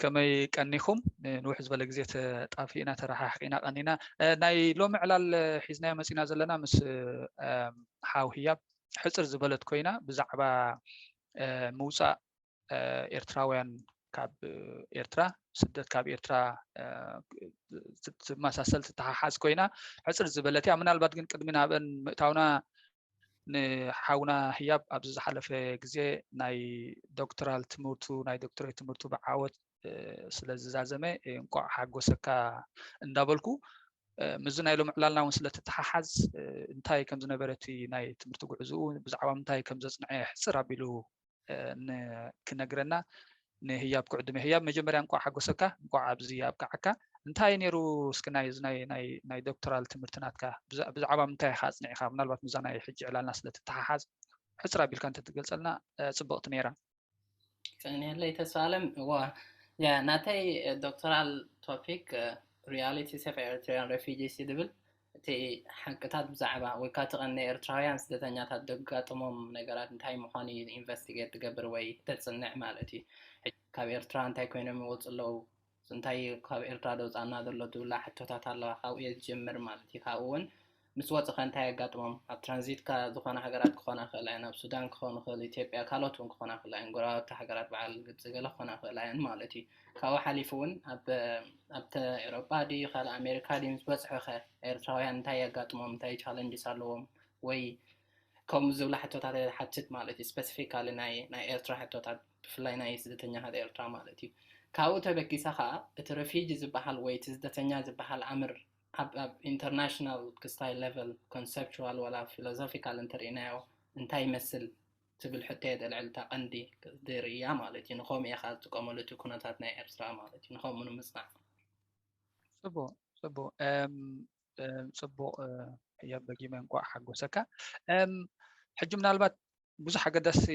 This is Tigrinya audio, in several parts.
ከመይ ቀኒኹም ንውሕ ዝበለ ግዜ ተጣፊእና ተረሓሕቂና ቀኒና ናይ ሎሚ ዕላል ሒዝናዮ መፂና ዘለና ምስ ሓው ህያብ ሕፅር ዝበለት ኮይና ብዛዕባ ምውፃእ ኤርትራውያን ካብ ኤርትራ ስደት ካብ ኤርትራ ትመሳሰል ትተሓሓዝ ኮይና ሕፅር ዝበለት እያ ምናልባት ግን ቅድሚ ናብአን ምእታውና ንሓውና ህያብ ኣብዚ ዝሓለፈ ግዜ ናይ ዶክትራል ትምህርቱ ናይ ዶክትሬት ትምህርቱ ብዓወት ስለ ዝዛዘመ እንቋዕ ሓጎሰካ እንዳበልኩ ምስዚ ናይ ሎም ዕላልና እውን ስለ ትተሓሓዝ እንታይ ከም ዝነበረ እቲ ናይ ትምህርቲ ጉዕዝኡ ብዛዕባ ምንታይ ከም ዘፅንዐ ሕፅር ኣቢሉ ክነግረና ንህያብ ክዕድመ ህያብ መጀመርያ እንኳዕ ሓጎሰካ እንኳዕ ኣብዚ ኣብቅዓካ እንታይ እዩ ነይሩ እስኪ ናይ ዶክተራል ትምህርቲ ናትካ ብዛዕባ ምንታይ ኢካ ኣፅኒዕካ ምናልባት ምዛ ናይ ሕጂ ዕላልና ስለትተሓሓዝ ሕፅር ኣቢልካ እንተትገልፀልና ፅብቕቲ ነይራ ቀኒለይ ተስፋ ኣለም ዋ ናተይ ዶክተራል ቶፒክ ሪያሊቲስ ኦፍ ኤሪትሪያን ሬፊጂስ ዝብል እቲ ሓቅታት ብዛዕባ ወይ ካኣ እቲ ቀን ኤርትራውያን ስደተኛታት ደጋጥሞም ነገራት እንታይ ምዃኑ እዩ ኢንቨስቲጌት ትገብር ወይ ተጽንዕ ማለት እዩ። ካብ ኤርትራ እንታይ ኮይኖም ይወጹ ኣለዉ፣ እንታይ እዩ ካብ ኤርትራ ደውጻና ዘሎ ትብላ ሕቶታት ኣለዋ ካብኡ እየ ዝጅምር ማለት እዩ። ካብኡ ውን ምስ ወጹ ከ እንታይ የጋጥሞም ኣብ ትራንዚት ከ ዝኾና ሃገራት ክኾና ይኽእላ እየን ኣብ ሱዳን ክኾን ይኽእል ኢትዮጵያ ካልኦት ውን ክኾና ይኽእላ እየን ጎረባብቲ ሃገራት በዓል ግብጺ ገለ ክኾና ይኽእላ እየን ማለት እዩ። ካብኡ ሓሊፉ እውን ኣብ ኣብተ ኤሮጳ ድዩ ካልእ ኣሜሪካ ድዩ ምስ በጽሑ ከ ኤርትራውያን እንታይ የጋጥሞም እንታይ ቻለንጅስ ኣለዎም ወይ ከምኡ ዝብላ ሕቶታት ሓትት ማለት እዩ ስፐሲፊካሊ ናይ ናይ ኤርትራ ሕቶታት ብፍላይ ናይ ስደተኛታት ኤርትራ ማለት እዩ ካብኡ ተበጊሰ ከዓ እቲ ረፊጂ ዝበሃል ወይ እቲ ስደተኛ ዝበሃል ኣምር ኣብ ኣብ ኢንተርናሽናል ክስታይ ሌቨል ኮንሰፕቹዋል ዋላ ፊሎዞፊካል እንተርእናዮ እንታይ ይመስል ትብል ሕቶ የጠልዕል እታ ቀንዲ ቅጽዲ ርእያ ማለት እዩ ንኸምኡ ኢኻ ዝጥቀመሉ እቲ ኩነታት ናይ ኤርትራ ማለት እዩ ንኸምኡ ንምጽናዕ ጽቡቅ ጽቡቅ ጽቡቅ ሕዮ በጊመ እንቋዕ ሓጎሰካ ሕጂ ምናልባት ብዙሕ ኣገዳሲ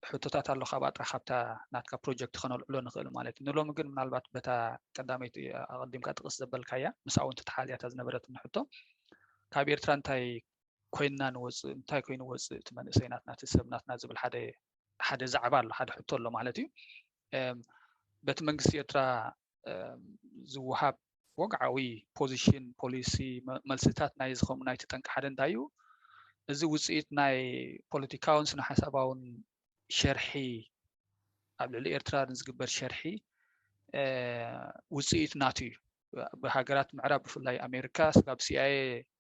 ሕቶታት ኣሎ ካብ ኣጥራ ካብታ ናትካ ፕሮጀክት ከነልዕሎ ንኽእል ማለት እዩ ንሎሚ ግን ምናልባት በታ ቀዳመይቲ ኣቐዲምካ ጥቕስ ዘበልካያ ምስኣ እውን ተተሓልያታ ዝነበረትኒ ሕቶ ካብ ኤርትራ እንታይ ኮይንና ንወፅእ እንታይ ኮይኑ ወፅእ እቲ መንእሰይ ናትና እቲ ሰብ ናትና ዝብል ሓደ ዛዕባ ኣሎ ሓደ ሕቶ ኣሎ ማለት እዩ በቲ መንግስቲ ኤርትራ ዝወሃብ ወግዓዊ ፖዚሽን ፖሊሲ መልስታት ናይ ዝከም ናይቲ ጠንቂ ሓደ እንታይ እዩ እዚ ውፅኢት ናይ ፖለቲካውን ስነ ሓሳባውን ሸርሒ ኣብ ልዕሊ ኤርትራ ንዝግበር ሸርሒ ውፅኢት ናቱ እዩ ብሃገራት ምዕራብ ብፍላይ ኣሜሪካ ስጋብ ሲኣየ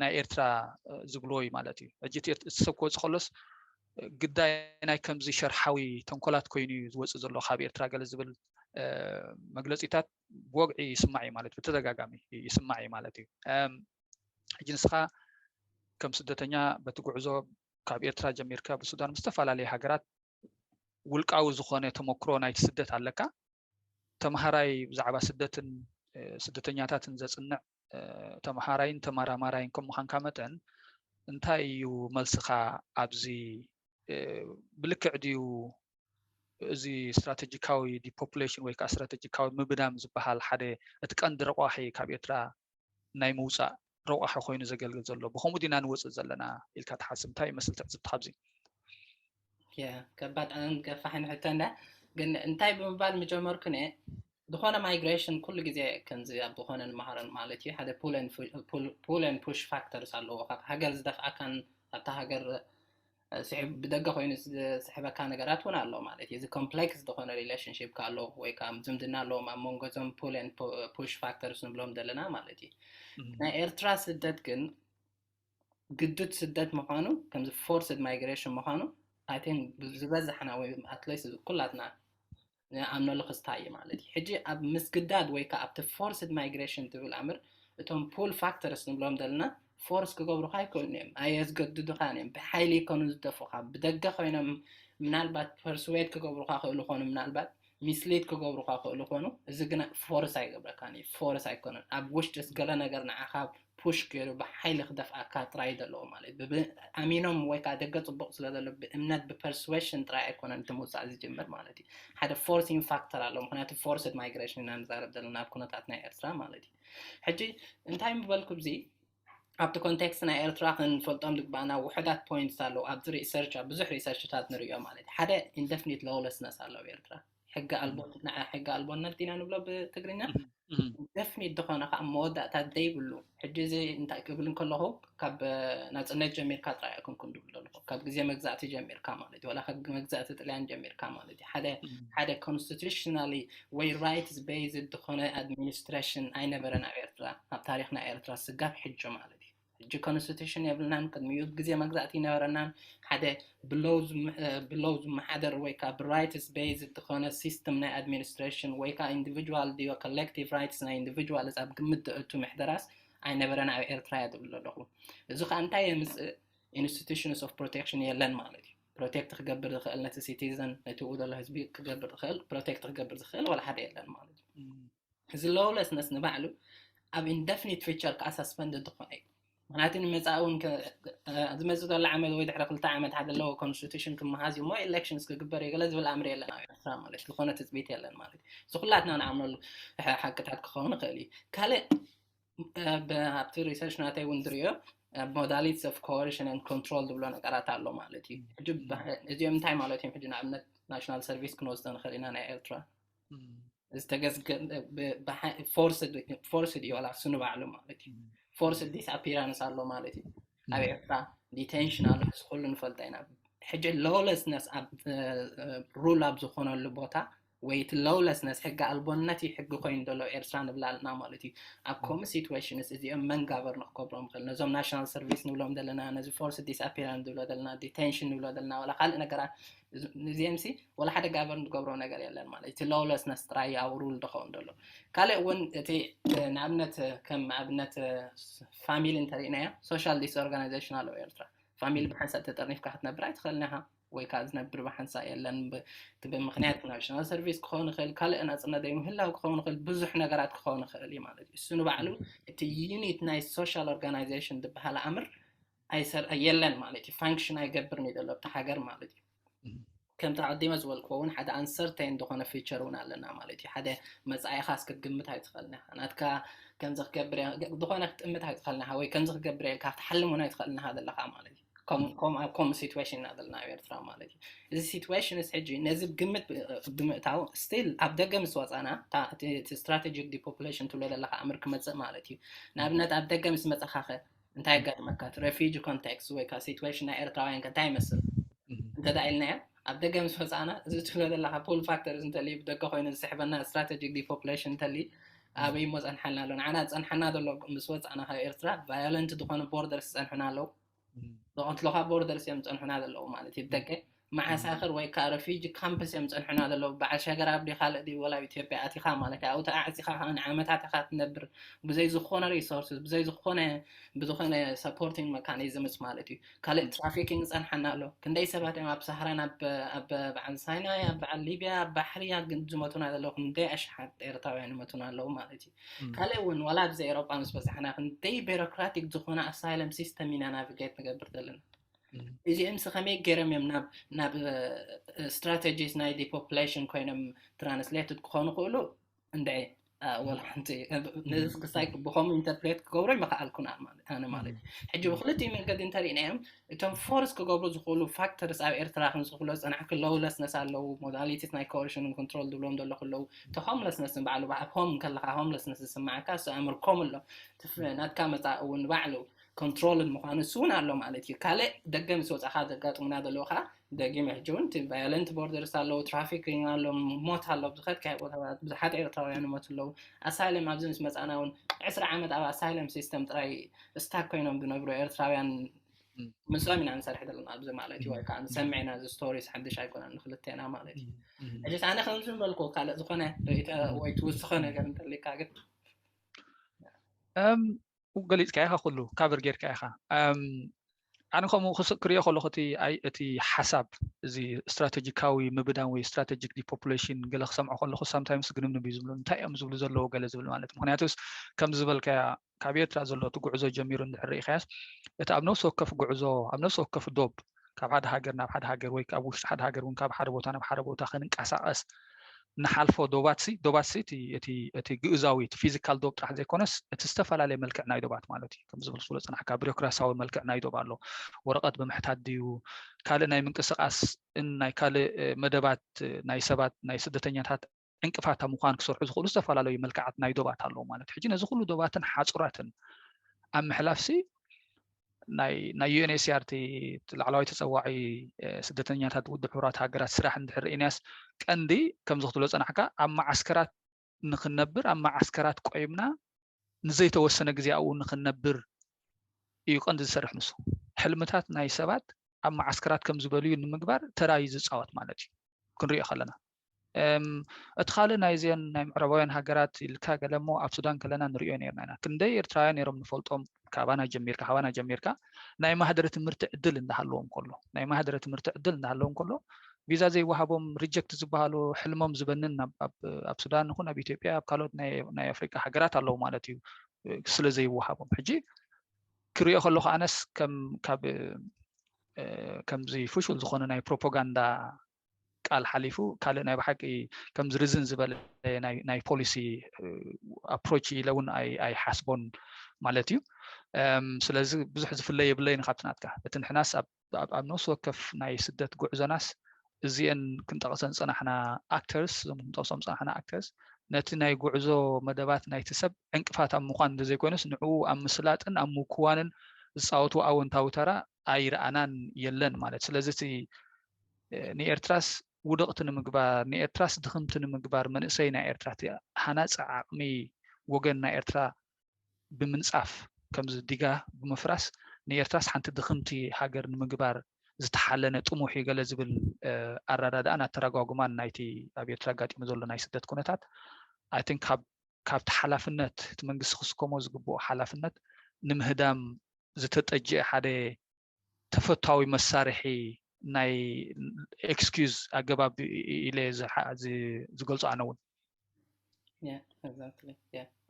ናይ ኤርትራ ዝብልዎ እዩ ማለት እዩ ሕጂ እቲ ሰብ ክወፅእ ከሎስ ግዳይ ናይ ከምዚ ሸርሓዊ ተንኮላት ኮይኑ እዩ ዝወፅእ ዘሎ ካብ ኤርትራ ገለ ዝብል መግለፂታት ብወግዒ ይስማዕ እዩ ማለት ብተደጋጋሚ ይስማዕ እዩ ማለት እዩ ሕጂ ንስኻ ከም ስደተኛ በቲ ጉዕዞ ካብ ኤርትራ ጀሚርካ ብሱዳን ምስ ዝተፈላለዩ ሃገራት ውልቃዊ ዝኾነ ተመክሮ ናይቲ ስደት ኣለካ ተምሃራይ ብዛዕባ ስደትን ስደተኛታትን ዘፅንዕ ተምሃራይን ተመራማራይን ከም ምዃንካ መጠን እንታይ እዩ መልስኻ ኣብዚ ብልክዕ ድዩ እዚ ስትራቴጂካዊ ዲፖፕሌሽን ወይ ከዓ ስትራቴጂካዊ ምብዳም ዝበሃል ሓደ እቲ ቀንዲ ረቋሒ ካብ ኤርትራ ናይ ምውፃእ ረቋሒ ኮይኑ ዘገልግል ዘሎ ብከምኡ ዲና ንወፅእ ዘለና ኢልካ ትሓስብ እንታይ ይመስል ትዕዝብትካ ኣብዚ ከባድ ገፋሕን ሕቶ እንዳ ግን እንታይ ብምባል ምጀመርኩ ነ ዝኾነ ማይግሬሽን ኩሉ ግዜ ከምዚ ኣብ ዝኾነ ንመሃረን ማለት እዩ ሓደ ፑለን ፑሽ ፋክተርስ ኣለዎ ካብ ሃገር ዝደፍኣካን ኣብታ ሃገር ብደገ ኮይኑ ዝስሕበካ ነገራት እውን ኣሎ ማለት እዩ እዚ ኮምፕሌክስ ዝኾነ ሪሌሽንሽፕ ካሎ ወይ ከዓ ዝምድና ኣለዎም ኣብ መንጎ እዞም ፑለን ፑሽ ፋክተርስ ንብሎም ዘለና ማለት እዩ ናይ ኤርትራ ስደት ግን ግዱድ ስደት ምዃኑ ከምዚ ፎርስድ ማይግሬሽን ምዃኑ ኣይ ቲንክ ዝበዛሕና ወይ ኣትሊስት ኩላትና ንኣምነሉ ክስታይ እዩ ማለት እዩ ሕጂ ኣብ ምስግዳድ ወይ ከዓ ኣብቲ ፎርስድ ማይግሬሽን ትብል ኣምር እቶም ፑል ፋክተርስ ንብሎም ዘለና ፎርስ ክገብሩካ ኣይክእሉን እዮም ኣየዝገድዱኻን እዮም ብሓይሊ ይከኑ ዝደፉኻ ብደገ ኮይኖም ምናልባት ፐርስዌድ ክገብሩካ ክእሉ ኾኑ ምናልባት ሚስሊድ ክገብሩካ ክእሉ ኮኑ እዚ ግና ፎርስ ኣይገብረካን እዩ ፎርስ ኣይኮነን ኣብ ውሽጢስ ገለ ነገር ንዓኻ ፑሽ ገይሩ ብሓይሊ ክደፍኣካ ጥራይ እዩ ዘለዎ ማለት እዩ ኣሚኖም ወይ ከዓ ደገ ፅቡቕ ስለ ዘሎ ብእምነት ብፐርስዌሽን ጥራይ ኣይኮነን እቲ ምውፃእ ዝጅምር ማለት እዩ ሓደ ፎርሲን ፋክተር ኣሎ ምክንያቱ ፎርስድ ማይግሬሽን ኢና ንዛረብ ዘለና ኣብ ኩነታት ናይ ኤርትራ ማለት እዩ ሕጂ እንታይ ምበልኩ ብዚ ኣብቲ ኮንቴክስት ናይ ኤርትራ ክንፈልጦም ዝግባኣና ውሑዳት ፖይንትስ ኣለዉ ኣብዚ ሪሰርች ኣብ ብዙሕ ሪሰርችታት ንሪኦ ማለት እዩ ሓደ ኢንደፍኒት ሎውለስነስ ኣሎ ኣብ ኤርትራ ሕጊ ኣልቦ ንዓ ሕጊ ኣልቦነት ኢና ንብሎ ብትግርኛ ኢንደፍኒት ዝኾነ ከዓ መወዳእታ ዘይብሉ ሕጂ እዚ እንታይ ክብል እንከለኹ ካብ ናፅነት ጀሚርካ ጥራይ ኣይኮንኩን ዝብል ዘለኹ ካብ ግዜ መግዛእቲ ጀሚርካ ማለት እዩ ዋላ ካብ መግዛእቲ ጥልያን ጀሚርካ ማለት እዩ ሓደ ሓደ ኮንስቲቱሽናሊ ወይ ራይትስ በይዝድ ድኾነ ኣድሚንስትረሽን ኣይነበረን ኣብ ኤርትራ ኣብ ታሪኽ ናይ ኤርትራ ስጋብ ሕጆ ማለት እዩ ሕጂ ኮንስቲቱሽን የብልናን ቅድሚኡ ግዜ መግዛእቲ ይነበረናን ሓደ ብሎው ዝመሓደር ወይ ከዓ ብራይትስ በይዝድ ድኾነ ሲስተም ናይ ኣድሚንስትረሽን ወይ ከዓ ኢንዲቪድዋል ድዮ ኮሌክቲቭ ራይትስ ናይ ኢንዲቪድዋልስ ኣብ ግምት ደእቱ ምሕደራስ ኣይነበረን ኣብ ኤርትራ እያ ዝብል ኣለኹ እዚ ከዓ እንታይ የምፅእ ኢንስቲቱሽንስ ኦፍ ፕሮቴክሽን የለን ማለት እዩ ፕሮቴክት ክገብር ዝኽእል ነቲ ሲቲዘን ነቲ ኡ ዘሎ ህዝቢ ክገብር ዝኽእል ፕሮቴክት ክገብር ዝኽእል ዋላ ሓደ የለን ማለት እዩ እዚ ሎውለስነስ ንባዕሉ ኣብ ኢንደፍኒት ፊቸር ከዓ ሳስፐንድ ዝኾነ እዩ ምክንያቱ ንመፃኢ እውን ዝመፅእ ዘሎ ዓመት ወይ ድሕሪ ክልተ ዓመት ሓደ ኣለዎ ኮንስቲቱሽን ክመሃዝ እዩ እሞ ኤሌክሽንስ ክግበር እዩ ገለ ዝብል ኣምሪ የለን ኣብ ኤርትራ ማለት እዩ ዝኾነ ትፅቢት የለን ማለት እዩ እዚ ኩላትና ንኣምነሉ ሓቅታት ክኸውን ይኽእል እዩ ካልእ ኣብቲ ሪሰርች ናተይ እውን ዝርዮ ሞዳሊትስ ኦፍ ኮርሽን ን ኮንትሮል ዝብሎ ነገራት ኣሎ ማለት እዩ ሕጂ እዚኦም እንታይ ማለት እዮም ሕጂ ንኣብነት ናሽናል ሰርቪስ ክንወስዶ ንኽእል ኢና ናይ ኤርትራ ዝተገዝገፎርስ ድዩ ዋላ እሱ ንባዕሉ ማለት እዩ ፎርስ ዲስ ኣፒራንስ ኣሎ ማለት እዩ ኣብ ኤርትራ ዲቴንሽን ኣሎ እዚ ኩሉ ንፈልጦ ኢና ሕጂ ሎለስነስ ኣብ ሩል ኣብ ዝኾነሉ ቦታ ወይ እቲ Lawlessness ሕገ ኣልቦነት እዩ ሕጊ ኮይኑ ዘሎ ኤርትራ ንብላ ኣልና ማለት እዩ ኣብ ከምኡ situations እዚኦም መን ጋበርኖ ክገብሮም ይኽእል ነዞም ናሽናል ሰርቪስ ንብሎም ዘለና ነዚ ፎርስ ዲስኣፒራንስ ንብሎ ዘለና ዲቴንሽን ንብሎ ዘለና ዋላ ካልእ ነገራት እዚኦም ሲ ዋላ ሓደ ጋበርን ዝገብሮ ነገር የለን ማለት እቲ Lawlessness ጥራይ እዩ ኣብ ሩል ዝኸውን ዘሎ ካልእ እውን እቲ ንኣብነት ከም ኣብነት ፋሚሊ እንተሪእናዮ ሶሻል ዲስኦርጋናይዜሽን ኣለዎ ኤርትራ ፋሚሊ ብሓንሳእ ተጠርኒፍካ ክትነብር ኣይትኽእልን ኢኻ ወይ ከዓ ዝነብር ብሓንሳእ የለን እቲ ብምክንያት ናሽናል ሰርቪስ ክኸውን ይኽእል ካልእ ናፅነት ዘይምህላው ክኸውን ይኽእል ብዙሕ ነገራት ክኸውን ይኽእል እዩ ማለት እዩ እሱ ንባዕሉ እቲ ዩኒት ናይ ሶሻል ኦርጋናይዜሽን ዝበሃል ኣምር ኣይሰር የለን ማለት እዩ ፋንክሽን ኣይገብርን እዩ ዘሎ ኣብቲ ሃገር ማለት እዩ ከምቲ ኣቐዲመ ዝበልክዎ እውን ሓደ ኣንሰርተይን ዝኾነ ፊቸር እውን ኣለና ማለት እዩ ሓደ መፃኢኻ እስክትግምት ኣይትኽእልን ኢኻ ናትካ ከምዚ ክገብር ዝኾነ ክትጥምት ኣይትኽእልን ኢኻ ወይ ከምዚ ክገብር ኢልካ ክትሓልም እውን ኣይትኽእልን ኢኻ ዘለኻ ማለት እዩ ከምኡ ኣብ ከምኡ ሲትዌሽን ኢና ዘለና ኣብ ኤርትራ ማለት እዩ እዚ ሲትዌሽንስ ሕጂ ነዚ ግምት ብምእታው ስቲል ኣብ ደገ ምስ ወፃና እቲ ስትራቴጂክ ዲፖፕሌሽን ትብሎ ዘለካ ኣምር ክመፅእ ማለት እዩ ንኣብነት ኣብ ደገ ምስ መፀኻኸ እንታይ ኣጋጥመካ እቲ ሬፊጂ ኮንቴክስት ወይ ከዓ ሲትዌሽን ናይ ኤርትራውያን ከ እንታይ ይመስል እንተዳ ኢልናዮ ኣብ ደገ ምስ ወጻእና እዚ ትብሎ ዘለካ ፑል ፋክተርስ እንተልዩ ብደገ ኮይኑ ዝስሕበና ስትራተጂክ ዲፖፕሌሽን እንተልዩ ኣበይ እሞ ጸንሓልና ኣሎ ንዓና ዝጸንሓና ዘሎ ምስ ወጻእና ካብ ኤርትራ ቫዮለንት ዝኾኑ ቦርደርስ ዝጸንሑና ኣለዉ ዝቐትሉኻ ቦርደርስ እዮም ዝጸንሑና ዘለዉ ማለት እዩ ብደገ መዓሳክር ወይ ከዓ ረፊጂ ካምፕስ እዮም ዝጸንሑና ዘለዉ በዓል ሸገር ኣብዲ ካልእ ድዩ ወላ ኣብ ኢትዮጵያ ኣቲኻ ማለት እዩ ኣብኡ ተዓዕጺኻ ከዓ ንዓመታት ኢኻ ትነብር ብዘይ ዝኾነ ሪሶርስስ ብዘይ ዝኾነ ብዝኾነ ሰፖርቲንግ መካኒዝምስ ማለት እዩ ካልእ ትራፊኪንግ ይጸንሓና ኣሎ ክንደይ ሰባት እዮም ኣብ ሳህራን ኣብ በዓል ሳይናይ ኣብ በዓል ሊብያ ኣብ ባሕሪ ዝመቱና ዘለዉ ክንደይ ኣሽሓት ኤርትራውያን ይመቱና ኣለዉ ማለት እዩ ካልእ እውን ዋላ ኣብዚ ኤሮጳ ምስ በዛሕና ክንደይ ቤሮክራቲክ ዝኾነ ኣሳይለም ሲስተም ኢና ናቪጌት ንገብር ዘለና እዚኦም ስ ከመይ ገይሮም እዮም ናብ ስትራቴጂስ ናይ ዲፖፕሌሽን ኮይኖም ትራንስሌትድ ክኾኑ ክእሉ እንድዒ ወላ ሓንቲ ነዚ ክሳይ ብከምኡ ኢንተርፕሬት ክገብሮ ይመክኣልኩን ኣነ ማለት እዩ ሕጂ ብክልቲኡ መንገዲ እንተሪእናዮም እቶም ፎርስ ክገብሩ ዝኽእሉ ፋክተርስ ኣብ ኤርትራ ክንስ ክብሎ ዝፀናሕ ክለውለስነስ ኣለዉ ሞዳሊቲስ ናይ ኮርሽን ኮንትሮል ዝብሎም ዘሎ ክለዉ እቲ ሆምለስነስ ንባዕሉ ኣብ ሆም ከለካ ሆምለስነስ ዝስማዓካ እሱ ኣምርኮም ኣሎ ናትካ መፃእ እውን ባዕሉ ኮንትሮልድ ምዃኑ ንሱ እውን ኣሎ ማለት እዩ። ካልእ ደገ ምስ ወጻኻ ዘጋጥሙና ዘለዉ ከኣ ደጊመ ሕጂ እውን እቲ ቫዮለንት ቦርደርስ ኣለዉ፣ ትራፊኪንግ ኣሎ፣ ሞት ኣሎ፣ ኣብ ዝኸድካዮ ቦታታት ብዙሓት ኤርትራውያን ይሞቱ ኣለዉ። ኣሳይለም ኣብዚ ምስ መጻእና እውን ዕስራ ዓመት ኣብ ኣሳይለም ሲስተም ጥራይ ስታክ ኮይኖም ዝነብሩ ኤርትራውያን ምስኦም ኢና ንሰርሕ ዘለና ኣብዚ ማለት እዩ ወይ ከዓ ንሰምዕ ኢና እዚ ስቶሪስ ሓድሽ ኣይኮነን ንክልቴና ማለት እዩ ሕጂስ ኣነ ከምዚ በልኩ ካልእ ዝኾነ ርእይቶ ወይ ትውስኾ ነገር እንተልካ ግን ገሊጽካዮ ኢኻ ኩሉ ካቨር ጌርካዮ ኢኻ ኣነ ከምኡ ክርእዮ ከለኹ እቲ እቲ ሓሳብ እዚ ስትራቴጂካዊ ምብዳን ወይ ስትራቴጂክ ዲፖፑሌሽን ገለ ክሰምዖ ከለኹ ሳምታይምስ ግንምንብ እዩ ዝብሉ እንታይ እዮም ዝብሉ ዘለዎ ገለ ዝብል ማለት ምክንያቱስ ከም ዝበልካያ ካብ ኤርትራ ዘሎ እቲ ጉዕዞ ጀሚሩ እንድሕር ርኢኻያስ እቲ ኣብ ነፍሲ ወከፍ ጉዕዞ ኣብ ነፍሲ ወከፍ ዶብ ካብ ሓደ ሃገር ናብ ሓደ ሃገር ወይ ካብ ውሽጢ ሓደ ሃገር እውን ካብ ሓደ ቦታ ናብ ሓደ ቦታ ክንንቀሳቐስ ንሓልፎ ዶባት ሲ ዶባት ሲ እቲ ግእዛዊ እቲ ፊዚካል ዶብ ጥራሕ ዘይኮነስ እቲ ዝተፈላለየ መልክዕ ናይ ዶባት ማለት እዩ ከም ዝብል ስለ ፅናሕካ ቢሮክራሲያዊ መልክዕ ናይ ዶብ ኣሎ ወረቐት ብምሕታት ድዩ ካልእ ናይ ምንቅስቓስ ናይ ካልእ መደባት ናይ ሰባት ናይ ስደተኛታት ዕንቅፋት ኣብ ምዃን ክሰርሑ ዝኽእሉ ዝተፈላለዩ መልክዓት ናይ ዶባት ኣለዉ ማለት ሕጂ ነዚ ኩሉ ዶባትን ሓፁራትን ኣብ ምሕላፍ ሲ ናይ ዩኤንኤስኣር እቲ ላዕለዋይ ተፀዋዒ ስደተኛታት ውድብ ሕቡራት ሃገራት ስራሕ እንድሕር ርኢናያስ ቀንዲ ከምዚ ክትብሎ ፀናሕካ ኣብ መዓስከራት ንክነብር ኣብ መዓስከራት ቆይምና ንዘይተወሰነ ግዜ ኣብኡ ንክነብር እዩ ቀንዲ ዝሰርሕ ንሱ ሕልምታት ናይ ሰባት ኣብ መዓስከራት ከም ዝበልዩ ንምግባር ተራዩ ዝፃወት ማለት እዩ ክንሪኦ ከለና እቲ ካልእ ናይዘን ናይ ምዕራባውያን ሃገራት ኢልካ ገለ እሞ ኣብ ሱዳን ከለና ንሪኦ ነርና ኢና ክንደይ ኤርትራውያን ነይሮም ንፈልጦም ካባና ጀሚርካ ካባና ጀሚርካ ናይ ማህደረ ትምህርቲ ዕድል እንዳሃለዎም ከሎ ናይ ማህደረ ትምህርቲ ዕድል እንዳሃለዎም ከሎ ቪዛ ዘይወሃቦም ሪጀክት ዝበሃሉ ሕልሞም ዝበንን ኣብ ሱዳን ይኹን ኣብ ኢትዮጵያ ኣብ ካልኦት ናይ ኣፍሪቃ ሃገራት ኣለዉ ማለት እዩ ስለ ዘይወሃቦም ሕጂ ክሪኦ ከለኩ ኣነስ ከም ካብ ከምዚ ፍሹል ዝኾነ ናይ ፕሮፓጋንዳ ቃል ሓሊፉ ካልእ ናይ ብሓቂ ከምዚ ርዝን ዝበለ ናይ ፖሊሲ ኣፕሮች ኢለ እውን ኣይሓስቦን ማለት እዩ ስለዚ ብዙሕ ዝፍለ የብለይን ካብቲ ናትካ እቲ ንሕናስ ኣብ ነፍሲ ወከፍ ናይ ስደት ጉዕዞናስ እዚአን ክንጠቕሰን ፀናሕና ኣክተርስ እዞም ክንጠቕሶም ፀናሕና ኣክተርስ ነቲ ናይ ጉዕዞ መደባት ናይቲ ሰብ ዕንቅፋት ኣብ ምኳን እንተዘይኮይኑስ ንዕኡ ኣብ ምስላጥን ኣብ ምኩዋንን ዝፃወቱ ኣወንታዊ ተራ ኣይረኣናን የለን ማለት ስለዚ እቲ ንኤርትራስ ውድቕቲ ንምግባር፣ ንኤርትራስ ድኽምቲ ንምግባር መንእሰይ ናይ ኤርትራ እቲ ሃናጺ ዓቕሚ ወገን ናይ ኤርትራ ብምንጻፍ ከምዚ ዲጋ ብምፍራስ ንኤርትራስ ሓንቲ ድኽምቲ ሃገር ንምግባር ዝተሓለነ ጥሙሕ እዩ ገለ ዝብል ኣረዳድኣን ኣተራጓጉማን ናይቲ ኣብ ኤርትራ ኣጋጢሙ ዘሎ ናይ ስደት ኩነታት ኣይ ቲንክ ካብ ካብቲ ሓላፍነት እቲ መንግስቲ ክስከሞ ዝግብኦ ሓላፍነት ንምህዳም ዝተጠጅአ ሓደ ተፈታዊ መሳርሒ ናይ ኤክስኪዝ ኣገባብ ኢለ ዝገልፆ ኣነ እውን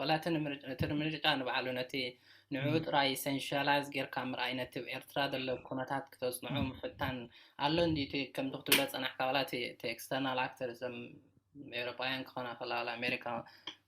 ዋላ እቲ ንምርጫ ንባዕሉ ነቲ ንዕኡ ጥራይ ሰንሻላይዝ ጌርካ ምርኣይ ነቲ ኣብ ኤርትራ ዘሎ ኩነታት ክተፅንዑ ምፍታን ኣሎ እንዲ እቲ ከምቲ ክትብሎ ፀናሕካ ዋላ እቲ ኤክስተርናል ኣክተር ዘም ኤውሮጳውያን ክኾና ከላ ዋላ ኣሜሪካ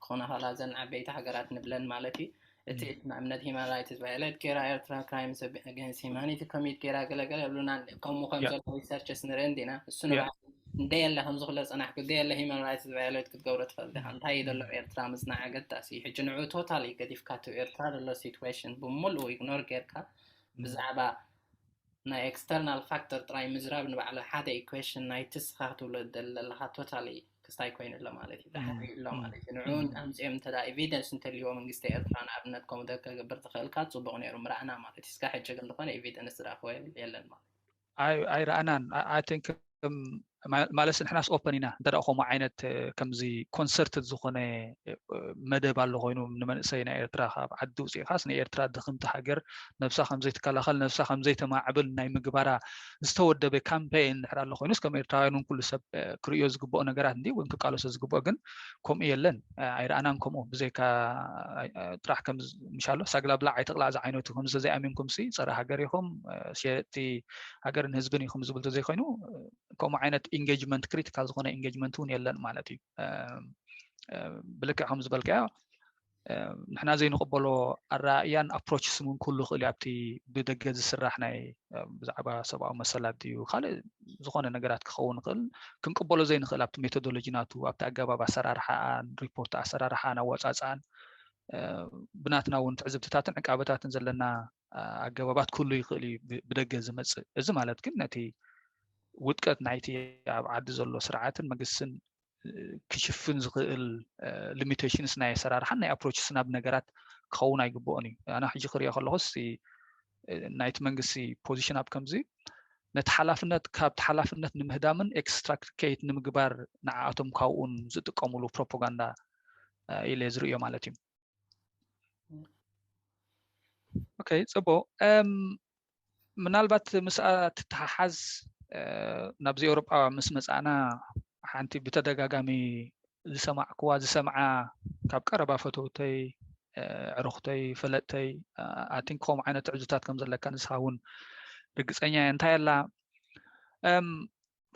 ክኾና ከላ ዘን ዓበይቲ ሃገራት ንብለን ማለት እዩ እቲ ዕድመ እምነት ሂማን ራይትስ ቫዮሌት ገይራ ኤርትራ ክራይምስ ኣገንስት ሂማኒቲ ኮሚት ገይራ ገለገለ ይብሉና ኣለዉ ከምኡ ከም ዘሎ ሪሰርችስ ንርኢ እንዲና እሱ ንባዕሉ እንደየለ ከምዚ ክለ ፀናሕኩ ደየለ ሂማን ራይትስ ቫዮሌት ክትገብሮ ትፈልጥ ኢኻ እንታይ እዩ ዘሎ ኤርትራ ምፅናዕ ኣገዳሲ እዩ ሕጂ ንዕኡ ቶታሊ ገዲፍካቶ ኤርትራ ዘሎ ሲትዌሽን ብምሉኡ ኢግኖር ጌርካ ብዛዕባ ናይ ኤክስተርናል ፋክተር ጥራይ ምዝራብ ንባዕሉ ሓደ ኢኩዌሽን ናይቲ ስኻ ክትብሎ ትደሊ ዘለኻ ቶታሊ ክስታይ ኮይኑ ኣሎ ማለት እዩ ዳሕሪ ኣሎ ማለት እዩ ንዕኡ ኣምፅኦም እንተ ኤቪደንስ እንተልዩዎ መንግስቲ ኤርትራ ንኣብነት ከምኡ ተከገብር ተኽእልካ ፅቡቅ ነይሩ ምረኣና ማለት እዩ እስካብ ሕጂ ግን ዝኾነ ኤቪደንስ ዝረኣኹዎ የለን ማለት እዩ ኣይረኣናን ኣይቲንክ ማለስ ንሕናስ ኦፐን ኢና እንተ ከምኡ ዓይነት ከምዚ ኮንሰርት ዝኾነ መደብ ኣሎ ኮይኑ ንመንእሰይ ናይ ኤርትራ ካብ ዓዲ ውፅኢኻስ ንኤርትራ ድኽምቲ ሃገር ነብሳ ከምዘይትከላኸል ነብሳ ከምዘይተማዕብል ናይ ምግባራ ዝተወደበ ካምፔይን ንሕር ኣሎ ኮይኑስ ከም ኤርትራውያን ውን ኩሉ ሰብ ክርእዮ ዝግብኦ ነገራት እንዲ ወይም ክቃለሶ ዝግብኦ ግን ከምኡ የለን ኣይረኣናን ከምኡ ብዘይካ ጥራሕ ከምምሻሎ ሳግላብላዕ ኣይተቕላዕ ዝዓይነቱ ከምዚ ዘይኣሚንኩም ሲ ፀረ ሃገር ኢኹም ሸየጥቲ ሃገርን ህዝብን እዩ ከምዝብል ተዘይኮይኑ ከምኡ ዓይነት ኢንጌጅመንት ክሪቲካል ዝኾነ ኢንጌጅመንት እውን የለን ማለት እዩ ብልክዕ ከም ዝበልካዮ ንሕና ዘይንቕበሎ ኣረኣእያን ኣፕሮች ስሙን ክህሉ ይኽእል እዩ ኣብቲ ብደገ ዝስራሕ ናይ ብዛዕባ ሰብኣዊ መሰላት እዩ ካልእ ዝኾነ ነገራት ክኸውን ይኽእል ክንቅበሎ ዘይንኽእል ኣብቲ ሜቶዶሎጂ ናቱ ኣብቲ ኣገባብ ኣሰራርሓኣን ሪፖርት ኣሰራርሓን ኣወፃፅኣን ብናትና እውን ትዕዝብትታትን ዕቃበታትን ዘለና ኣገባባት ክህሉ ይኽእል እዩ ብደገ ዝመፅእ እዚ ማለት ግን ነቲ ውድቀት ናይቲ ኣብ ዓዲ ዘሎ ስርዓትን መንግስትን ክሽፍን ዝኽእል ሊሚቴሽንስ ናይ ኣሰራርሓን ናይ ኣፕሮችስ ናብ ነገራት ክኸውን ኣይግብኦን እዩ ኣነ ሕጂ ክሪኦ ከለኹ ናይቲ መንግስቲ ፖዚሽን ኣብ ከምዚ ነቲ ሓላፍነት ካብቲ ሓላፍነት ንምህዳምን ኤክስትራክት ከይት ንምግባር ንዓኣቶም ካብኡን ዝጥቀምሉ ፕሮፓጋንዳ ኢለ ዝርእዮ ማለት እዩ ኦኬ ፅቡቅ ምናልባት ምስኣ ትተሓሓዝ ናብዚ ኤውሮጳ ምስ መፃእና ሓንቲ ብተደጋጋሚ ዝሰማዕክዋ ዝሰምዓ ካብ ቀረባ ፈተውተይ ዕሩኽተይ ፈለጥተይ ኣቲን ከምኡ ዓይነት ትዕዙታት ከም ዘለካ ንስኻ እውን ርግፀኛ እየ እንታይ ኣላ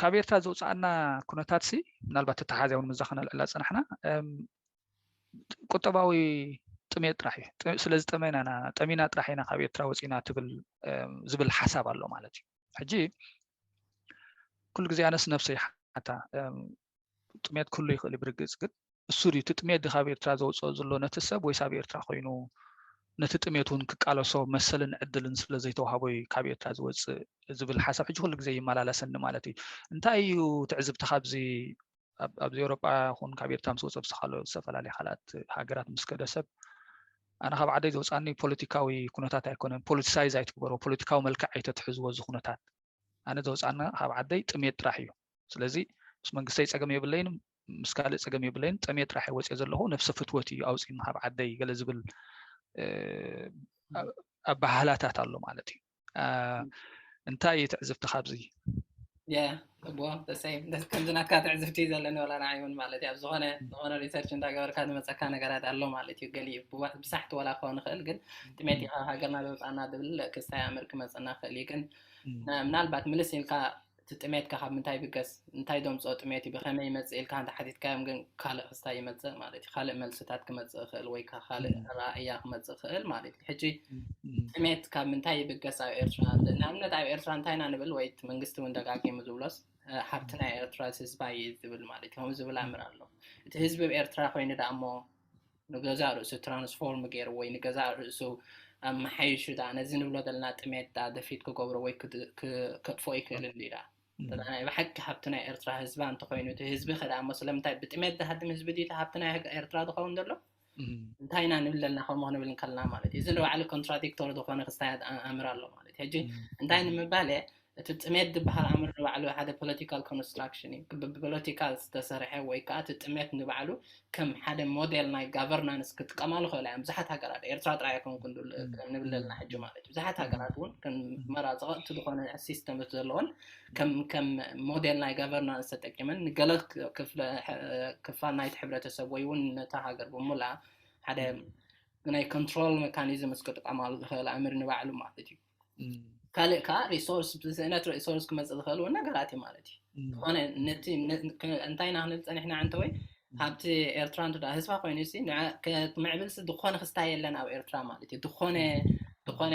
ካብ ኤርትራ ዘውፃኣና ኩነታት ሲ ምናልባት ተተሓዝያ እውን ምዛ ከነልዕላ ፅናሕና ቁጠባዊ ጥሜት ጥራሕ እዩ ስለ ዝጠመና ኢና ጠሚና ጥራሕ ኢና ካብ ኤርትራ ወፂና ትብል ዝብል ሓሳብ ኣሎ ማለት እዩ ሕጂ ኩሉ ግዜ ኣነስ ነብሰ ይሓታ ጥሜት ኩሉ ይኽእል እዩ ብርግፅ ግን እሱ ድዩ እቲ ጥሜት ካብ ኤርትራ ዘውፅኦ ዘሎ ነቲ ሰብ ወይስ ኣብ ኤርትራ ኮይኑ ነቲ ጥሜት እውን ክቃለሶ መሰልን ዕድልን ስለ ዘይተዋሃቦ እዩ ካብ ኤርትራ ዝወፅእ ዝብል ሓሳብ ሕጂ ኩሉ ግዜ ይመላለሰኒ ማለት እዩ እንታይ እዩ ትዕዝብቲ ካብዚ ኣብዚ ኤውሮጳ ይኹን ካብ ኤርትራ ምስ ወፀብሲ ካልኦት ዝተፈላለየ ካልኣት ሃገራት ምስ ከደ ሰብ ኣነ ካብ ዓደይ ዘውፃኒ ፖለቲካዊ ኩነታት ኣይኮነን ፖለቲሳይዝ ኣይትግበሮ ፖለቲካዊ መልክዕ ኣይተትሕዝዎ እዚ ኩነታት ኣነ ዘውፃኒ ካብ ዓደይ ጥሜት ጥራሕ እዩ ስለዚ ምስ መንግስተይ ፀገም የብለይን ምስ ካልእ ፀገም የብለይን ጥሜት ጥራሕ ወፅኦ ዘለኹ ነፍሰ ፍትወት እዩ ኣውፅኒ ካብ ዓደይ ገለ ዝብል ኣባህላታት ኣሎ ማለት እዩ እንታይ እዩ ትዕዝብቲ ካብዚ ከምዚ ናትካ ትዕዝብቲ ዘለኒ ላ ንይ ውን ማለት እ ኣብዝኾነ ዝኮነ ሪሰርች እዳገበርካ ዝመፀካ ነገራት ኣሎ ማለት እዩ ገሊ ብሳሕቲ ዋላ ክኸው ንክእል ግን ጥሜት ሃገርና ዘውፃና ዝብል ክሳይ ኣምር ክመፅና ክእል እዩ ግን ምናልባት ምልስ ኢልካ እቲ ጥሜትካ ካብ ምንታይ ይብገስ እንታይ ደምጾ ጥሜት እዩ ብከመይ ይመጽእ ኢልካ እንተ ሓቲትካዮም ግን ካልእ ክስታይ ይመጽእ ማለት እዩ ካልእ መልስታት ክመጽእ ይክእል ወይ ከኣ ካልእ እም፣ ኣረኣእያ ክመጽእ ይክእል ማለት እዩ ሕጂ እም፣ እም፣ ጥሜት ካብ ምንታይ ይብገስ ኣብ ኤርትራ ን- ንኣብነት ኣብ ኤርትራ እንታይ ኢና ንብል ወይ እቲ መንግስቲ እውን ደጋጊሙ ዝብሎስ እ፣ ሃብቲ እም፣ ናይ ኤርትራስ ህዝባ እዩ ዝብል ማለት እዩ ከምኡ ዝብል እም፣ ኣምር ኣሎ እቲ ህዝቢ ብ ኤርትራ ኮይኑ ደኣ እሞ ንገዛእ ርእሱ ትራንስፎርም ገይሩ ወይ ንገዛእ ርእሱ ኣመሓይሹ ድኣ ነዚ ንብሎ ዘለና ጥሜት ድኣ ደፊት ክገብሮ ወይ ከጥፎ ይክእል እንዲ ድኣ ናይ ብሓቂ ሃብቲ ናይ ኤርትራ ህዝባ እንተኮይኑ እቲ ህዝቢ ከ ድኣ ስለምንታይ ብጥሜት ዝሃድም ህዝቢ ድዩ እቲ ሃብቲ ናይ ኤርትራ ዝኸውን ዘሎ እንታይ ኢና ንብል ዘለና ከምኡ ክንብል ከለና ማለት እዩ እዚ ንባዕሉ ኮንትራዲክቶር ዝኾነ ክስታያት ኣምር ኣሎ ማለት እዩ ሕጂ እንታይ ንምባል እየ እቲ ጥሜት ዝበሃል ኣምር ንባዕሉ ሓደ ፖለቲካል ኮንስትራክሽን እዩ። ብፖለቲካ ዝተሰርሐ ወይ ከኣ እቲ ጥሜት ንባዕሉ ከም ሓደ ሞዴል ናይ ጋቨርናንስ ክጥቀማሉ ይኽእላ እየን ብዙሓት ሃገራት፣ ኤርትራ ጥራይ ኣይኮንኩን ንብል ዘለና ሕጂ ማለት እዩ። ብዙሓት ሃገራት እውን ከም መራ ዘቐጥቱ ዝኾነ ሲስተምስ ዘለወን ከም ከም ሞዴል ናይ ጋቨርናንስ ተጠቂመን ንገለ ክፋል ናይቲ ሕብረተሰብ ወይ እውን ነታ ሃገር ብሙሉኣ ሓደ ናይ ኮንትሮል ሜካኒዝምስ ክጥቀማሉ ዝኽእላ ኣምር ንባዕሉ ማለት እዩ። ካልእ ከዓ ሪሶርስ ብስእነት ሪሶርስ ክመፅእ ዝኽእል እውን ነገራት እዩ ማለት እዩ ዝኾነ ነቲ እንታይ ኢና ክንብል ፀኒሕና ዕንተወይ ሃብቲ ኤርትራ እንተ ህዝባ ኮይኑ ሲ ምዕብልሲ ዝኾነ ክስታይ የለን ኣብ ኤርትራ ማለት እዩ ዝኾነ ዝኾነ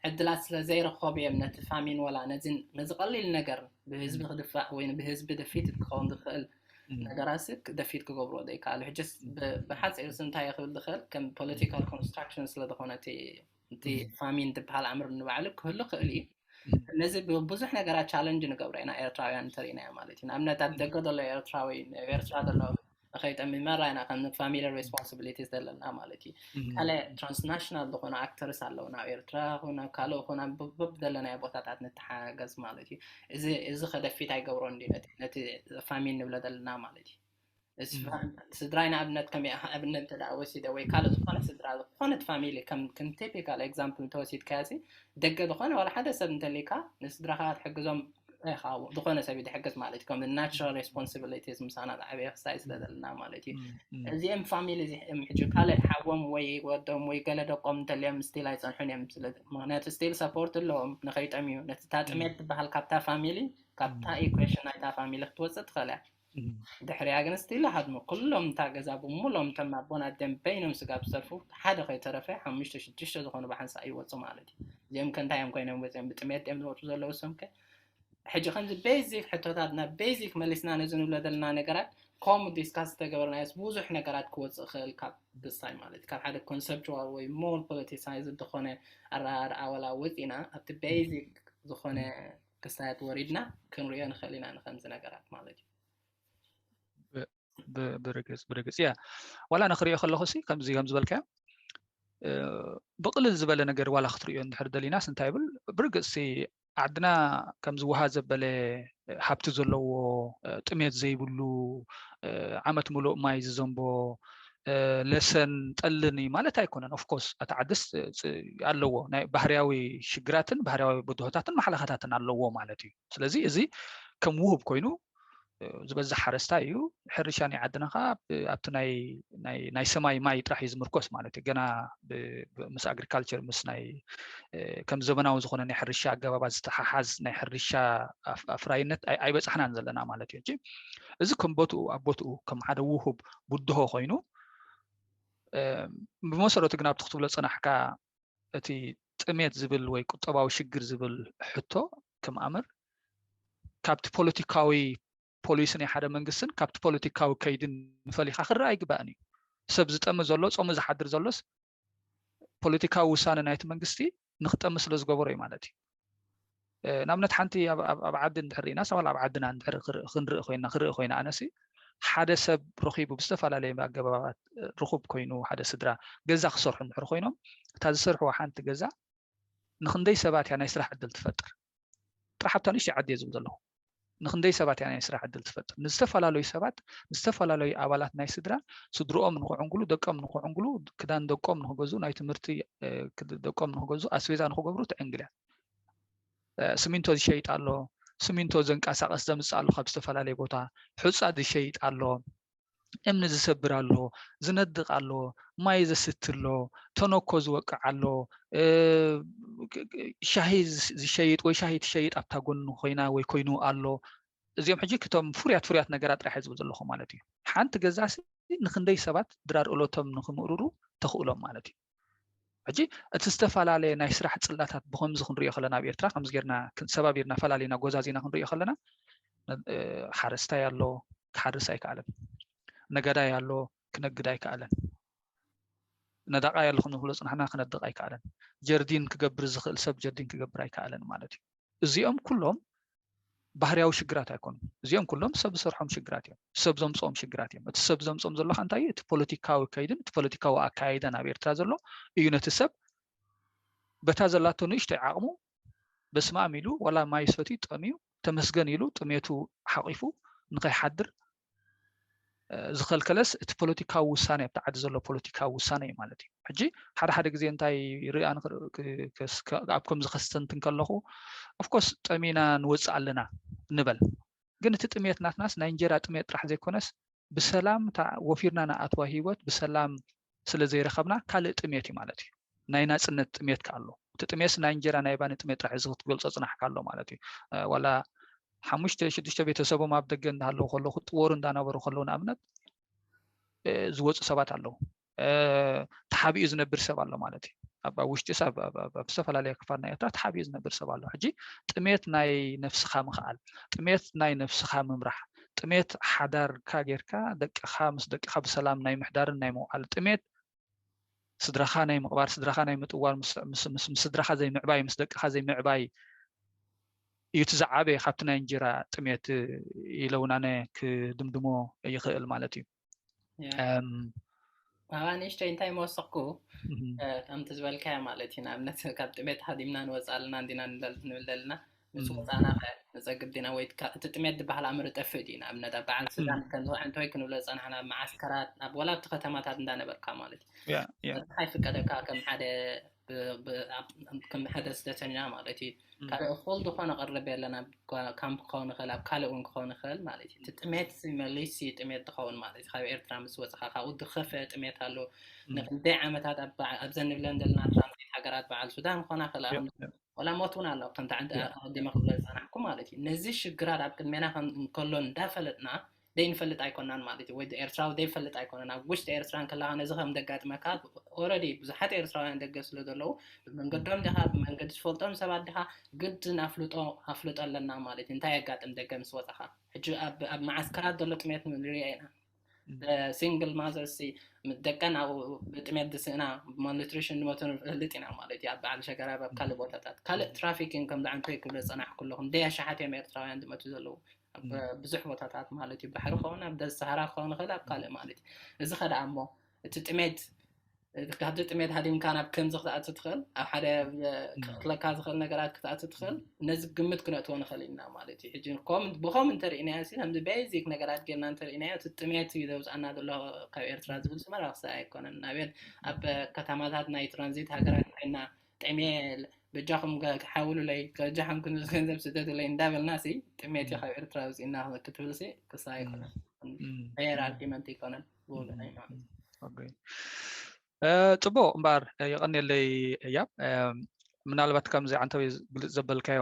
ዕድላት ስለ ዘይረኸቡ እዮም ነቲ ፋሚን ወላ ነዚ ነዚ ቀሊል ነገር ብህዝቢ ክድፋዕ ወይ ብህዝቢ ደፊት ክኸውን ዝኽእል ነገራት ሲ ደፊት ክገብሮ ዘይከኣሉ ሕጅስ ብሓፂር ሲ እንታይ ክብል ዝኽእል ከም ፖለቲካል ኮንስትራክሽን ስለ ዝኾነ እቲ እቲ ፋሚን ትበሃል ኣምር ንባዕሉ ክህሉ ክእል እዩ ነዚ ብዙሕ ነገራት ቻለንጅ ንገብሮ ኢና ኤርትራውያን እንተሪኢናዮ ማለት እዩ ንኣብነት ኣብ ደገ ዘሎ ኤርትራዊ ኤርትራ ዘሎ ንከይጠሚመራ ኢና ከም ፋሚሊ ሬስፖንሲቢሊቲ ዘለና ማለት እዩ ካለ ትራንስናሽናል ዝኾኑ ኣክተርስ ኣለዉ ናብ ኤርትራ ኹን ኣብ ካልእ ኹን ኣብበብ ዘለናዮ ቦታታት ንተሓጋገዝ ማለት እዩ እዚ ከደፊት ኣይገብሮን ነቲ ፋሚን ንብለ ዘለና ማለት እዩ ስድራይ ንኣብነት ከመይ ኣብነት እንተ ወሲደ ወይ ካልእ ዝኾነ ስድራ ዝኾነት ፋሚሊ ከም ከም ቲፒካል ኤግዛምፕል እንተወሲድካዮ ሲ ደገ ዝኾነ ዋላ ሓደ ሰብ እንተሊካ ንስድራኻ ክትሕግዞም ኢኻ ዝኾነ ሰብ ድሕግዝ ማለት እዩ ከም ናቹራል ሬስፖንሲቢሊቲስ ምሳና ዝዓበየ ክሳይ ስለ ዘለና ማለት እዩ እዚኦም ፋሚሊ እዚኦም ሕጂ ካልእ ሓዎም ወይ ወዶም ወይ ገለ ደቆም እንተልዮም ስቲል ኣይፀንሑን እዮም ስለ ምክንያቱ ስቲል ሰፖርት ኣለዎም ንኸይጠምዩ ነቲ ታጥሜት ትበሃል ካብታ ፋሚሊ ካብታ ኢኩዌሽን ናይታ ፋሚሊ ክትወፅእ ትኽእል እያ ድሕሪኣ ግን ስቲላ ሃድሞ ኩሎም እታ ገዛ ብሙሎም እቶም ኣቦን ኣደን በይኖም ስጋብ ዝተርፉ ሓደ ከይተረፈ ሓሙሽተ ሽዱሽተ ዝኾኑ ብሓንሳእ ይወጹ ማለት እዩ እዚኦም ከ እንታይ እዮም ኮይኖም ወጺኦም ብጥሜት ድዮም ዝወጹ ዘለዉ እሶም ከ ሕጂ ከምዚ ቤዚክ ሕቶታት ናብ ቤዚክ መሊስና ነዚ ንብሎ ዘለና ነገራት ከምኡ ዲስካስ ዝተገበርናዮስ ብዙሕ ነገራት ክወፅእ ክእል ካብ ብሳይ ማለት ካብ ሓደ ኮንሰፕቹዋል ወይ ሞር ፖለቲሳይዝ ዝኾነ ኣረኣርኣ ወላ ወፂእና ኣብቲ ቤዚክ ዝኾነ ክሳያት ወሪድና ክንሪኦ ንኽእል ኢና ንከምዚ ነገራት ማለት እዩ ብርግፅ ብርግፅ እያ ዋላ ንክሪኦ ከለኩ ሲ ከምዚ ከም ዝበልካዮ ብቅልል ዝበለ ነገር ዋላ ክትሪኦ እንድሕር ደሊናስ እንታይ ይብል ብርግፅ ሲ ዓድና ከምዚ ውሃ ዘበለ ሃብቲ ዘለዎ ጥሜት ዘይብሉ ዓመት ምሉእ ማይ ዝዘንቦ ለሰን ጠልን እዩ ማለት ኣይኮነን ኦፍኮርስ ኣቲ ዓድስ ኣለዎ ናይ ባህርያዊ ሽግራትን ባህርያዊ ብድሆታትን ማሓለኻታትን ኣለዎ ማለት እዩ ስለዚ እዚ ከም ውህብ ኮይኑ ዝበዝሕ ሓረስታ እዩ ሕርሻ ናይ ዓድና ከዓ ኣብቲ ናይ ሰማይ ማይ ጥራሕ እዩ ዝምርኮስ ማለት እዩ ገና ምስ ኣግሪካልቸር ምስ ናይ ከም ዘመናዊ ዝኮነ ናይ ሕርሻ ኣገባባት ዝተሓሓዝ ናይ ሕርሻ ኣፍራይነት ኣይበፃሕናን ዘለና ማለት እዩ እዚ ከም ቦትኡ ኣብ ቦትኡ ከም ሓደ ውሁብ ብድሆ ኮይኑ ብመሰረቱ ግን ኣብቲ ክትብሎ ፅናሕካ እቲ ጥሜት ዝብል ወይ ቁጠባዊ ሽግር ዝብል ሕቶ ከም ኣምር ካብቲ ፖለቲካዊ ፖሊሲ ናይ ሓደ መንግስትን ካብቲ ፖለቲካዊ ከይድን ፈሊካ ክረኣ ኣይግባእን እዩ ሰብ ዝጠሚ ዘሎ ፀሙ ዝሓድር ዘሎስ ፖለቲካዊ ውሳነ ናይቲ መንግስቲ ንክጠሚ ስለ ዝገበሮ እዩ ማለት እዩ ንኣብነት ሓንቲ ኣብ ዓዲ እንድሕር ኢና ሰባል ኣብ ዓድና እንድሕር ክንርኢ ኮይና ክርኢ ኮይና ኣነሲ ሓደ ሰብ ረኪቡ ብዝተፈላለየ ኣገባባት ርኩብ ኮይኑ ሓደ ስድራ ገዛ ክሰርሑ እንድሕር ኮይኖም እታ ዝሰርሕዎ ሓንቲ ገዛ ንክንደይ ሰባት እያ ናይ ስራሕ ዕድል ትፈጥር ጥራሕ ኣብታ ንእሽተይ ዓዲ እየ ዝብል ዘለኹ ንክንደይ ሰባት እያ ናይ ስራሕ ዕድል ትፈጥር ንዝተፈላለዩ ሰባት ንዝተፈላለዩ ኣባላት ናይ ስድራ ስድርኦም ንክዕንግሉ ደቀም ንክዕንግሉ ክዳን ደቆም ንክገዙ ናይ ትምህርቲ ደቆም ንክገዙ ኣስቤዛ ንክገብሩ ትዕንግል እያ ስሚንቶ ዝሸይጥ ኣሎ ስሚንቶ ዘንቀሳቀስ ዘምፅእ ኣሎ ካብ ዝተፈላለዩ ቦታ ሕፃ ዝሸይጥ ኣሎ እምኒ ዝሰብር ኣሎ፣ ዝነድቅ ኣሎ፣ ማይ ዘስቲ ኣሎ፣ ተነኮ ዝወቅዕ ኣሎ፣ ሻሂ ዝሸይጥ ወይ ሻሂ ትሸይጥ ኣብታ ጎኑ ኮይና ወይ ኮይኑ ኣሎ። እዚኦም ሕጂ ክቶም ፍሩያት ፍሩያት ነገራት ጥራሕ ዝብል ዘለኹ ማለት እዩ። ሓንቲ ገዛሲ ንክንደይ ሰባት ድራር እሎቶም ንክምእርሩ ተኽእሎም ማለት እዩ። ሕጂ እቲ ዝተፈላለየ ናይ ስራሕ ጽላታት ብከምዚ ክንሪኦ ከለና ኣብ ኤርትራ ከምዚ ጌርና ሰባቢርና ፈላሊና ጎዛዚና ክንሪኦ ከለና ሓረስታይ ኣሎ ክሓርስ ኣይከኣለን ነጋዳይ ኣሎ ክነግድ ኣይከኣለን ነዳቃይ ኣሎ ከም ዝብሎ ጽናሕና ክነድቕ ኣይከኣለን ጀርዲን ክገብር ዝኽእል ሰብ ጀርዲን ክገብር ኣይከኣለን ማለት እዩ እዚኦም ኩሎም ባህርያዊ ሽግራት ኣይኮኑን። እዚኦም ኩሎም ሰብ ዝሰርሖም ሽግራት እዮም። ሰብ ዘምፅኦም ሽግራት እዮም። እቲ ሰብ ዘምፅኦም ዘሎ ከዓ እንታይ እዩ? እቲ ፖለቲካዊ ከይድን እቲ ፖለቲካዊ ኣካያይዳን ኣብ ኤርትራ ዘሎ እዩ ነቲ ሰብ በታ ዘላቶ ንእሽተይ ዓቕሙ በስመ ኣም ኢሉ ዋላ ማይ ሰትዩ ጠምዩ ተመስገን ኢሉ ጥሜቱ ሓቒፉ ንኸይሓድር ዝኸልከለስ እቲ ፖለቲካዊ ውሳኔ ኣብቲ ዓዲ ዘሎ ፖለቲካዊ ውሳኔ እዩ ማለት እዩ ሕጂ ሓደ ሓደ ግዜ እንታይ ርኣ ኣብ ከምዚ ከስተንትን ከለኹ ኣፍኮርስ ጠሚና ንወፅእ ኣለና ንበል ግን እቲ ጥሜት ናትናስ ናይ እንጀራ ጥሜት ጥራሕ ዘይኮነስ ብሰላም ወፊርና ንኣትዋ ሂወት ብሰላም ስለ ዘይረኸብና ካልእ ጥሜት እዩ ማለት እዩ። ናይ ናጽነት ጥሜት ከ ኣሎ። እቲ ጥሜስ ናይ እንጀራ ናይ ባኒ ጥሜት ጥራሕ እዚ ክትገልጾ ጽናሕካ ኣሎ ማለት እዩ። ዋላ ሓሙሽተ ሽዱሽተ ቤተሰቦም ኣብ ደገ እንዳሃለዉ ከለዉ ክጥወሩ እንዳነበሩ ከለዉ ንኣብነት ዝወፁ ሰባት ኣለዉ ተሓቢኡ ዝነብር ሰብ ኣሎ ማለት እዩ ኣብ ውሽጢ ሰብ ኣብ ዝተፈላለየ ክፋል ናይ ኤርትራ ተሓቢኡ ዝነብር ሰብ ኣሎ ሕጂ ጥሜት ናይ ነፍስኻ ምኽኣል ጥሜት ናይ ነፍስኻ ምምራሕ ጥሜት ሓዳርካ ጌርካ ደቅኻ ምስ ደቅኻ ብሰላም ናይ ምሕዳርን ናይ ምውዓል ጥሜት ስድራኻ ናይ ምቕባር ስድራኻ ናይ ምጥዋር ምስ ስድራኻ ዘይምዕባይ ምስ ደቅኻ ዘይምዕባይ እዩ እቲ ዝዓበየ ካብቲ ናይ እንጀራ ጥሜት ኢለ እውን ኣነ ክድምድሞ ይኽእል ማለት እዩ ካብኣ ንእሽተይ እንታይ መወሰኽኩ ከምቲ ዝበልካዮ ማለት እዩ ንኣብነት ካብ ጥሜት ሃዲምና ንወፃ ኣለና እንዲና ንብል ዘለና ንሱ ወፃና ከ ንፀግብ ዲና ወይ እቲ ጥሜት ዝበሃል ኣምር ጠፍእ ድዩ ንኣብነት ኣብ በዓል ስዳን ከምዚ ዕንተወይ ክንብሎ ፀናሕና ኣብ መዓስከራት ናብ ወላ ኣብቲ ከተማታት እንዳነበርካ ማለት እዩ ኣይፍቀደካ ከም ሓደ ከም ሓደ ስደተኛ ማለት እዩ ካልእ እኩል ዝኾነ ቅርብ የለን ኣብ ካምፕ ክኸውን ይኽእል ኣብ ካልእ እውን ክኸውን ይኽእል ማለት እዩ እቲ ጥሜት መሊስ ጥሜት ትኸውን ማለት እዩ ካብ ኤርትራ ምስ ወፅኻ ካብኡ ዝኸፈ ጥሜት ኣሎ ንክንደይ ዓመታት ኣብዘን ንብለን ዘለና ትራንዚት ሃገራት በዓል ሱዳን ክኾና ክላ ወላ ሞት እውን ኣሎ ከምቲ ዓዲ ኣቐዲመ ክብሎ ዝፀናሕኩ ማለት እዩ ነዚ ሽግራት ኣብ ቅድሜና እንከሎ እንዳፈለጥና ደይንፈልጥ ኣይኮናን ማለት እዩ ወይ ኤርትራዊ ደይፈልጥ ኣይኮነን ኣብ ውሽጢ ኤርትራ እንከለኻ ነዚ ከም ደጋጥመካ ኦረዲ ብዙሓት ኤርትራውያን ደገ ስለ ዘለዉ ብመንገዶም ዲኻ ብመንገዲ ዝፈልጦም ሰባት ዲኻ ግድን ኣፍልጦ ኣፍልጦ ኣለና ማለት እዩ እንታይ የጋጥም ደገ ምስ ወጻኻ ሕጂ ኣብ ኣብ መዓስከራት ዘሎ ጥሜት ንሪኦ ኢና ሲንግል ማዘርስ ደቀን ኣብ ብጥሜት ዝስእና ማልኒትሪሽን ዝሞቱ ንፈልጥ ኢና ማለት እዩ ኣብ በዓል ሸገራብ ኣብ ካልእ ቦታታት ካልእ ትራፊኪን ከምዚ ዓንተይ ክብለ ዝጸናሕኩ ኣለኹ ደይ ኣሽሓት እዮም ኤርትራውያን ዝመቱ ዘለዉ ኣብ ብዙሕ ቦታታት ማለት እዩ ባሕሪ ከውን ኣብ ገዝ ሰሃራ ክኸውን ይኽእል ኣብ ካልእ ማለት እዩ እዚ ከደኣ እሞ እቲ ጥሜት ካብዚ ጥሜት ሃዲምካ ናብ ከምዚ ክትኣቱ ትኽእል ኣብ ሓደ ክክለካ ዝኽእል ነገራት ክትኣቱ ትኽእል ነዚ ግምት ክነእትዎ ንኽእል ኢና ማለት እዩ ሕጂ ብከም እንተርእናዮ ሲ ከምዚ ቤዚክ ነገራት ጌርና እንተርእናዮ እቲ ጥሜት እዩ ዘውፅኣና ዘሎ ካብ ኤርትራ ዝብል ስመራ ክሰ ኣይኮነን ናብት ኣብ ከተማታት ናይ ትራንዚት ሃገራት ኮይና ጥሜል በጃኹም ሓውሉለይ ከጃኹም ክንዚ ገንዘብ ስደትለይ እንዳበልና ሲ ጥሜት እዩ ካብ ኤርትራ ውፅእና ክትብል ሲ ክሳ ኣይኮነን ፌር ኣርጊመንት ኣይኮነን ፅቡቅ እምበኣር የቀኒለይ እያብ ምናልባት ከምዚ ዓንተዊ ግልፅ ዘበልካዮ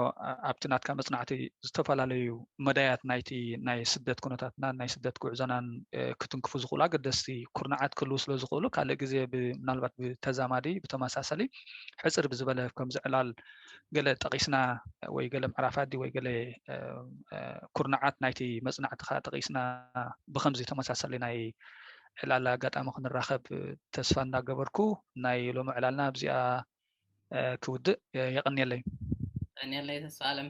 ኣብቲ ናትካ መፅናዕቲ ዝተፈላለዩ መዳያት ናይቲ ናይ ስደት ኩነታትናን ናይ ስደት ጉዕዞናን ክትንክፉ ዝኽእሉ ኣገደስቲ ኩርናዓት ክህልዉ ስለ ዝኽእሉ ካልእ ግዜ ምናልባት ብተዛማዲ ብተመሳሰሊ ሕፅር ብዝበለ ከምዚ ዕላል ገለ ጠቒስና ወይ ገለ ምዕራፋዲ ወይ ገለ ኩርናዓት ናይቲ መፅናዕቲ ከዓ ጠቒስና ብከምዚ ተመሳሰሊ ናይ ዕላል ኣጋጣሚ ክንራኸብ ተስፋ እንዳገበርኩ ናይ ሎሚ ዕላልና ኣብዚኣ ክውድእ የቐንየለይ ቀንየለይ ተስፋ ኣለም